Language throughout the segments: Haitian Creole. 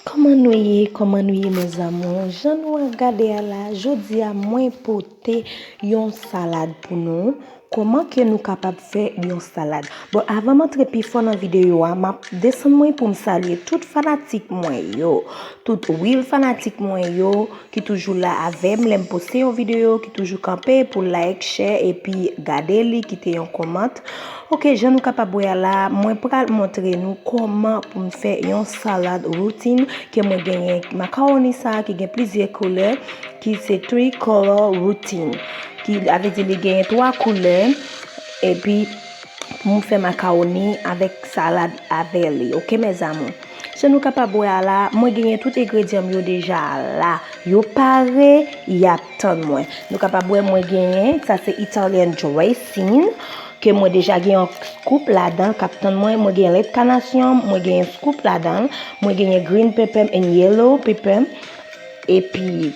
Koman nou ye koman nou ye mes amours jan nou a gade a la jodia mwen pote yon salad pou nou koman ke nou kapab fè yon salad bon avan m antre pi fon nan video a map desann mwen poum salye tout fanatik mwen yo tout real fanatik mwen yo. Ki toujou la avèm lèm poste yon video ki toujou kanpe pou like share epi gade li kite yon comment ok jan nou kapab wè a la mwen pral montre nou koman poum fè yon salad routine ke mwen genyen macaroni sa ki gen plizyè koulè ki se 3 color routine ki avè di li genyen 3 koulè epi poum fè macaroni avèk salad avè li ok mes amours Jan nou kapab wè a la, mwen genyen tout egredyan m yo deja la. Yo pare, y ap tann mwen. Nou kapab wè mwen genyen, sa se Italian dressing, ke mwen deja gen yon scoop ladan k ap tann mwen. Mwen gen lèt kanasyon m, mwen gen yon scoop ladan l. Mwen genyen green pepper m and yellow pepper m. Epi.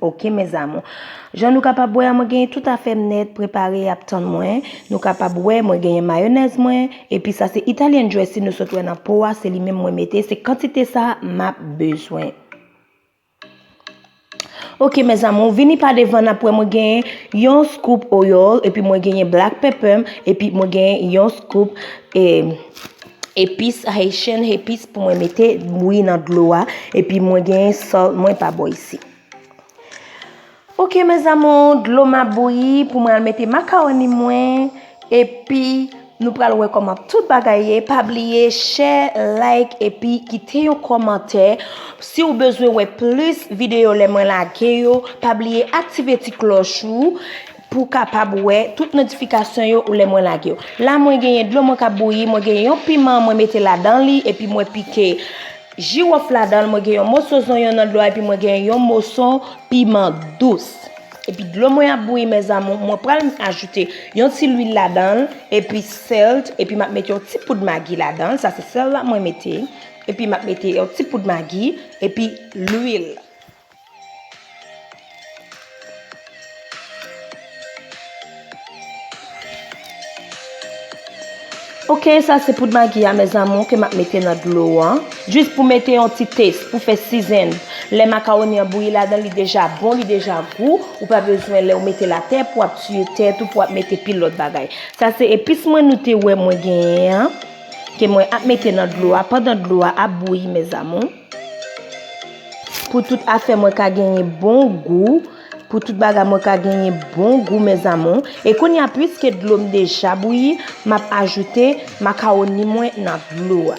Ok mes amour. Jan nou kapab wè a mwen genyen tout afèm nèt prepare yap tann mwen. Nou kapab wè mwen genyen mayonèz mwen epi sa se Italian dressing nou sot wè nan po a se li menm mwen mete se kantite sa map bezwen. Ok mes amour vini pa devan nap wè mwen genyen yon scoop oil epi mwen genyen black pepper m epi mwen genyen yon scoop eh Epis haitian epis pou mwen mete bouyi nan dlo a epi mwen gen sal mwen pa bo isi. Ok mes amours, dlo ma bouyi pou mwen al mete macaroni mwen epi nou pral wè koman tout bagay ye pa bliye share like epi kite yon komantè si ou bezwen wè plis video lè mwen lage yo pa bliye aktive ti kloch ou. Pou kapab wè tout notifikasyon yo ou lè mwen lage yo. La mwen genyen dlo mwen kap bouyi, mwen genyen yon piman mwen mete ladan li, epi mwen pike jiwof ladan, mwen genyen yon moso zonyon nan dlo a, epi mwen genyen yon moso piman dous. Epi dlo mwen ap bouyi mè zamou, mwen pral ajoute yon ti lwil ladan, epi sèlt, epi map mete yon ti poud magi ladan, sa se sèl la mwen mete, epi map mete yon ti poud magi, epi lwil. Ok sa se poud magi a mes amour ke map mete nan dlo an. Jis pou mete yon ti taste, pou fè season. Lè macaroni an bouyi ladan li deja bon, li deja gou. Ou pa bezwen lè ou mete la tè pou ap tiye tèt ou pou ap mete pil lot bagay. Sa se epis mwen nou te wè mwen genyen an. Ke mwen ap mete nan dlo a pandan dlo a ap bouyi mes amour. Pou tout afè mwen ka genyen bon gou, pou tout bagay mwen ka genyen bon gou mes amours. E kounye a pwiske dlo m deja bouyi, m ap ajoute makawoni mwen nan dlo a.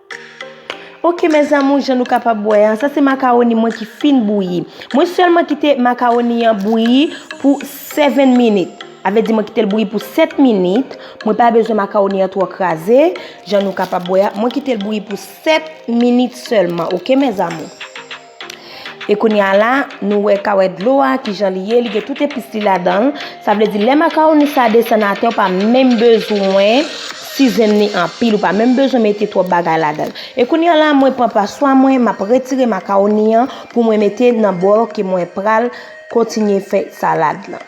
Ok mes amours jan nou kapab wè a sa se macaroni mwen ki fin bouyi mwen selman kite macaroni an bouyi pou 7 minit avè di mwen kitel bouyi pou 7 minit mwen pa bezwen macaroni an tro kraze jan nou kapab wè a mwen kitel bouyi pou 7 minit selman ok mes amours. E kounye a la, nou wè kawè dlo a, ki jan li ye, li gen tout epis li ladan l. Sa vle di lè makawoni sa desann atè ou pa menm bezwen sizen li anpil, ou pa menm bezwen mete twòp bagay ladan l. E kounye a la mwen pran paswa mwen, m ap retire makawoni an pou mwen mete nan bòl ke mwen pral kontinye fè salad lan.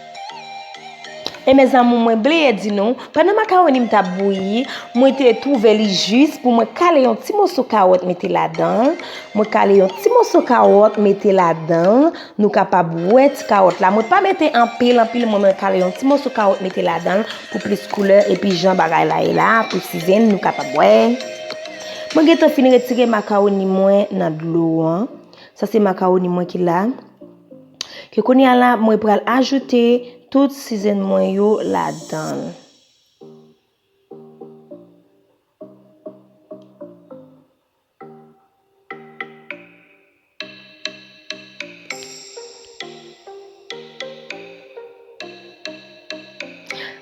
E mes amour mwen bliye di nou, pandan makawoni m tap bouyi, mwen te twouve li jis pou mwen kale yon ti moso kawòt mete ladan, mwen kale yon ti moso kawòt mete ladan, nou kapab wè ti kawòt la, mwen pa mete anpil anpil mwen mwen kale yon ti moso kawòt mete ladan pou plis koulè epi jan bagay la ye la pou sizen nou kapab wè. Mwen gentan fin retire makawoni mwen nan dlo an, sa se makawoni mwen ki la. Ke kounye a la mwen pral ajoute tout sizen mwen yo ladan.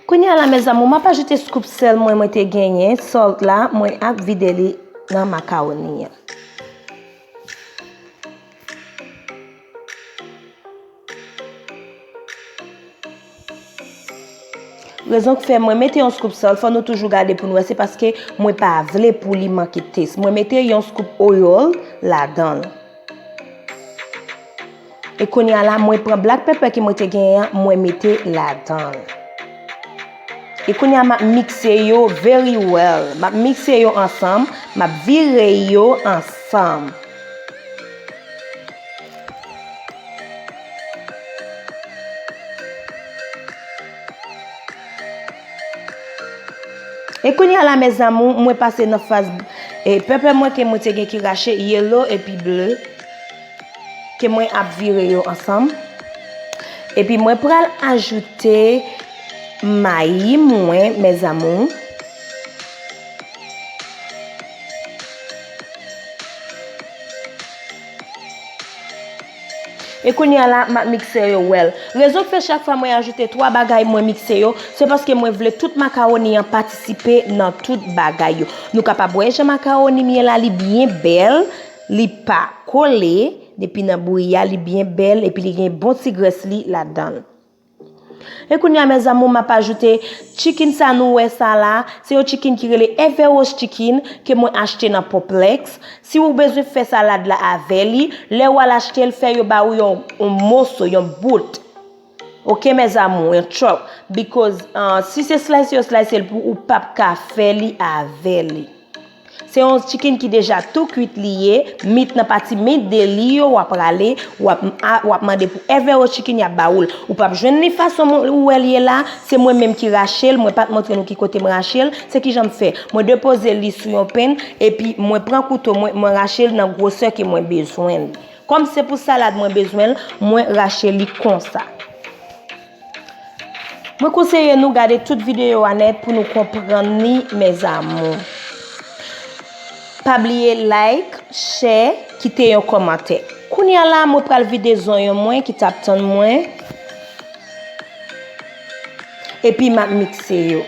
Kounye a la mè zamou, mwen pa ajoute skup sèl mwen mwen te genyen, salt la mwen ap vide li nan makawoni. Rezon ki fè mwen mete yon scoop sal fò nou toujou gade pou nou wè se paske mwen pa vle pou li manke tes. Mwen mete yon scoop oil ladan l. E konya la mwen pran black pepper ki mwen te genyen an mwen mete ladan l. E kounya map mixe yo very well. Map mixe yo ansanm. Map vire yo ansanm. E kounya la mes amou mwen pase nan faz e pepe mwen ke mwen te gen ki rache yellow epi bleu. ke mwen ap vire yo ansanm epi mwen pral ajoute mayi mwen mes amours e kounye a la map mikse yo wèl rezon ki fè chak fwa mwen ajoute 3 bagay mwen mikse yo se paske mwen vle tout macaroni an patisipe nan tout bagay yo nou kapab wè jan macaroni m ye la li byen bèl Li pa kole, depi nan bouyi a li byen bèl epi li gen bon ti grès li ladanl. E kounye a mes amours map ajoute chicken sa nou wè sa la, se yon chicken ki rele Everos chicken ke mwen achte nan Poplex, si ou bezwen fè salad la avè li, lè wal achtel fè yo ba ou yon moso, yon bout. Ok mes amours, yon chop, because si se slice yo slice l pou ou pap ka fè li avè li. Se yon chicken ki deja tou kwit li ye, meat nan pati meat de li yo wap rale, wap wap mande pou Evero Chicken yap ba ou l. Ou pap jwenn li fason ou wè l ye la, se mwen menm ki rache l, mwen pat montre nou ki kote m rache l, se kijan m fè, mwen depoze li sou yon pen epi mwen pran kouto mwen, mwen rache l nan gwosè ke mwen bezwen li. Kòm se pou salad mwen bezwen l, mwen rache li konsa. Mwen konseye nou gade tout videyo a nèt pou nou konprann li mes amours. Pa bliye like, share, kite yon kòmantè. Kounya la mwen pral vide zonyon mwen ki tap tann mwen. Epi map mikse yo.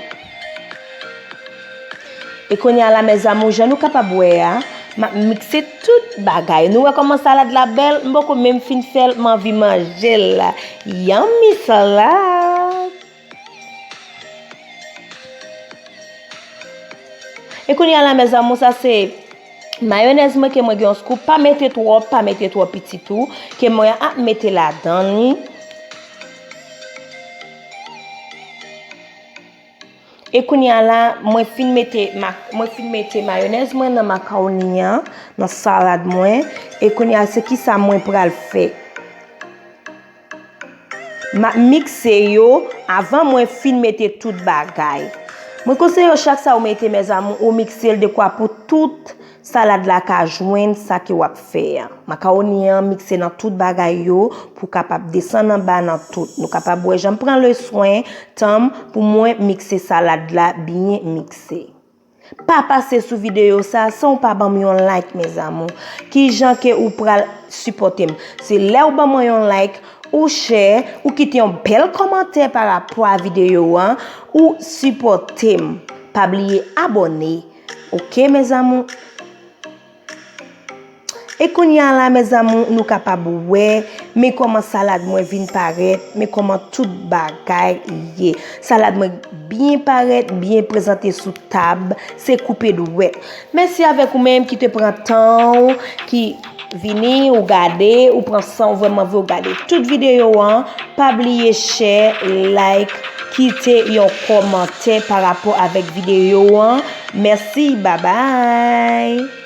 E konya la mes amour jan nou kapab wè a map mixe tout bagay nou wè koman salad la bèl m poko menm fin fèl m anvi manjel la yummy salad E konya la mes amour sa se mayonèz mwen ke mwen gen yon scoop pa mete twòp pa mete twòp piti tou ke mwen ap mete ladan li. E kounya la mwen fin mete mwen fin mete mayonèz mwen nan makawoni an, nan salad mwen. E kounya se ki sa mwen pral fè. Map mikse yo avan mwen fin mete tout bagay. Mwen konseye yo chak sa ou mete mèzamou ou mikse l dekwa pou tout. Salad la ka jwenn sa ke wap fè a. Makawoni an mikse nan tout bagay yo pou kapab desann anba nan tout. Nou kapab wè janm pran le swen tanm pou mwen mikse salad la byen mikse. Pa pase sou video sa san ou pa banm yon like mes amour. Kijan ke ou pral sipotem. Se lè ou ban mwen yon like, ou share, ou kite yon bel komantè pa rapò a video an, ou sipotem. Pa bliye abone. Ok mes amours. E kounya la mes amours nou kapab wè men koman salad mwen vin parèt, men koman tout bagay ye. Salad mwen byen parèt, byen prezante sou tab, se koupe dwèt. Mèsi avèk ou menm ki te pran tan ou ki Vini ou gade ou pran san ou vreman vle ou gade tout video an pa bliye share like kite yon komante pa rapò avek video an merci bye bye.